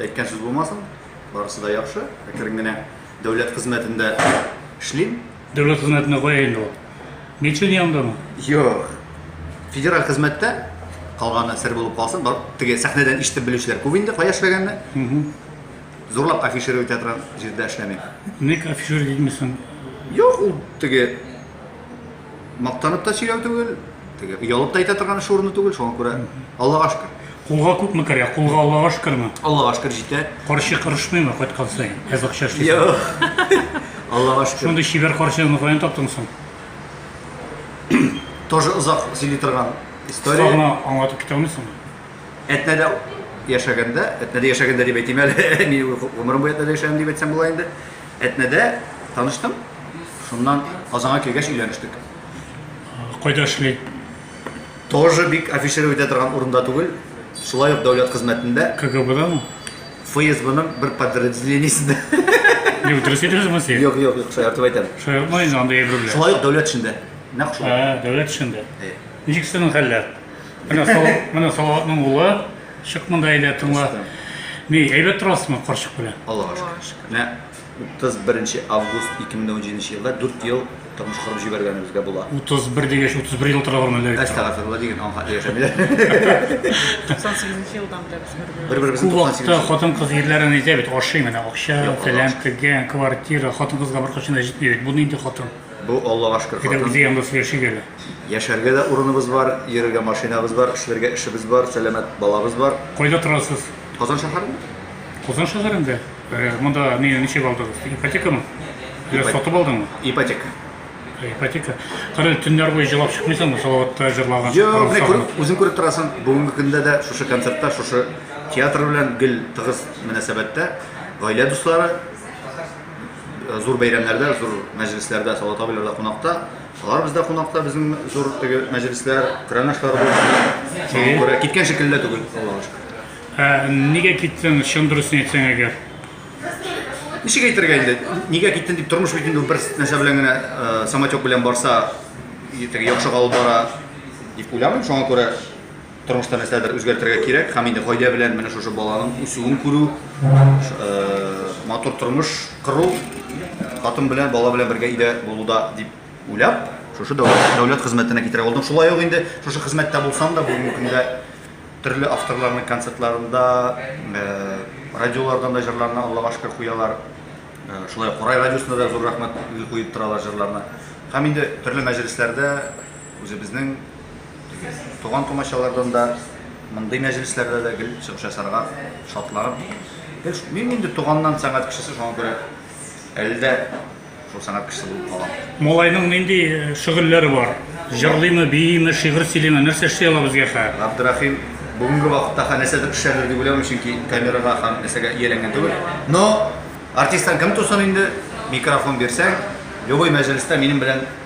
Әйткән сүз булмасын, барысы да яхшы. Әкрен генә дәүләт хезмәтендә эшлим. Дәүләт хезмәтендә кая инде ул? Милчен янындамы? Юк. Федераль хезмәттә калганы сер булып калсын. Бар, теге сәхнәдән ишетеп белүчеләр күп инде кая эшләгәнне. Зурлап афишировать итә торган җирдә эшләмим. Ник афишировать итмисең? Юк, ул теге мактанып та сөйләү түгел, теге оялып та әйтә торган эш урыны түгел, шуңа күрә Аллага шөкер. Кулга күпме керә? Кулга Аллага шөкерме? Аллага шөкер җитә. Карчы кырышмыймы кайткан саен? Әз акча эшлисең. Юк. Аллага шөкер. Шундый чибәр карчыгыңны каян таптың соң? Тоже озак сөйли торган история. Кыска гына аңлатып китә алмыйсыңмы? Әтнәдә яшәгәндә, әтнәдә яшәгәндә дип әйтим әле, мин гомерем буе әтнәдә яшәдем дип әйтсәм була инде. Әтнәдә таныштым, шуннан Казанга килгәч өйләнештек. Кайда эшли? Тоже бик афишировать итә торган урында түгел, шулай ук дәүләт хезмәтендә. КГБдамы? ФСБның бер подразделениесендә. Юк, дөрес әйтәсезме сез? Юк, юк, юк, шаяртып әйтәм. Шаяртма инде, анда әйберләр. Шулай ук дәүләт эшендә. Нәкъ шулай. Ә, дәүләт эшендә. Әйе. Ничек синең хәлләр? Менә Салават, менә Салаватның улы. Чык монда әйдә тыңла. Ни, әйбәт торасызмы карчык белән? Аллага шөкер. Менә 31 август 2017 елда 4 ел тормыш корып җибәргәнебезгә була. 31 дигәч 31 ел тора бармы әллә? Әстәгәферлә диген аңхатлы яшәмиләр. 98 елдан беләбез бер-беребезне. Бер-беребезне 98. Күп вакытта хатын-кыз ирләрен әйтә бит, ашый менә акча, фәлән, тегән, квартира, хатын-кызга беркайчан да җитми бит. Бу нинди хатын? Бу Аллага шөкер хатын. Әйдә үзе янда сөйләшик әле. Яшәргә дә урыныбыз бар, йөрергә машинабыз бар, эшләргә эшебез бар, сәламәт балабыз бар. Кайда торасыз? Казан шәһәрендә. Казан шәһәрендә? Э, монда не, ничек алдыгыз? Ипотекамы? Ипотека. сатып алдыңмы? Ипотека. Ипотека. Кара, төннәр буе җылап чыкмыйсыңмы? Салаватта җырлаган. Юк, менә күреп, үзең күреп торасың. Бүгенге көндә дә шушы концертта, шушы театр белән гел тыгыз мөнәсәбәттә. Гаилә дуслары, Зур бәйрәмнәрдә, зур мәҗлесләрдә Салават абыйлар да кунакта. Алар бездә кунакта, безнең зур теге мәҗлесләр, крәнашлар булсын. Шуңа күрә киткән шикелле дә түгел, Аллага шөкер. Ә нигә киттең, чын дөресен әйтсәң әгәр? Ничек әйтергә инде? Нигә киттең дип, тормыш бит инде ул бер нәрсә белән генә, э, самотек белән барса, и теге яхшыга алып бара дип уйламыйм. Шуңа күрә Тормышта нәрсәдер үзгәртергә кирәк һәм инде гаилә белән менә шушы баланың үсүен күрү, матур тормыш кору, хатын белән, бала белән бергә өйдә булуда дип уйлап, шушы дәүләт хезмәтенә китерә алдым. Шулай ук инде шушы хезмәттә булсам да, бүгенге көндә төрле авторларның концертларында, радиолардан да җырларны, Аллага шөкер, куялар. Шулай ук Курай радиосына да зур рәхмәт куеп торалар җырларны. Һәм инде төрле мәҗлесләрдә Үзебезнең туган-тумачалардан да мондый мәҗлесләрдә дә гел чыгыш ясарга шатланып, мин инде туганнан сәнгать кешесе, шуңа күрә әле дә шул сәнгать кешесе булып калам. Малайның нинди э, шөгыльләре бар? Җырлыймы, бииме, шигырь сөйлиме, нәрсә эшли ала безгә хәзер? Габдрахим бүгенге вакытта ха нәрсәдер пешерер дип уйлыйм, чөнки камерага һәм нәрсәгә ияләнгән түгел. Но артисттан кем тусын инде, микрофон бирсәң, любой мәҗлестә минем белән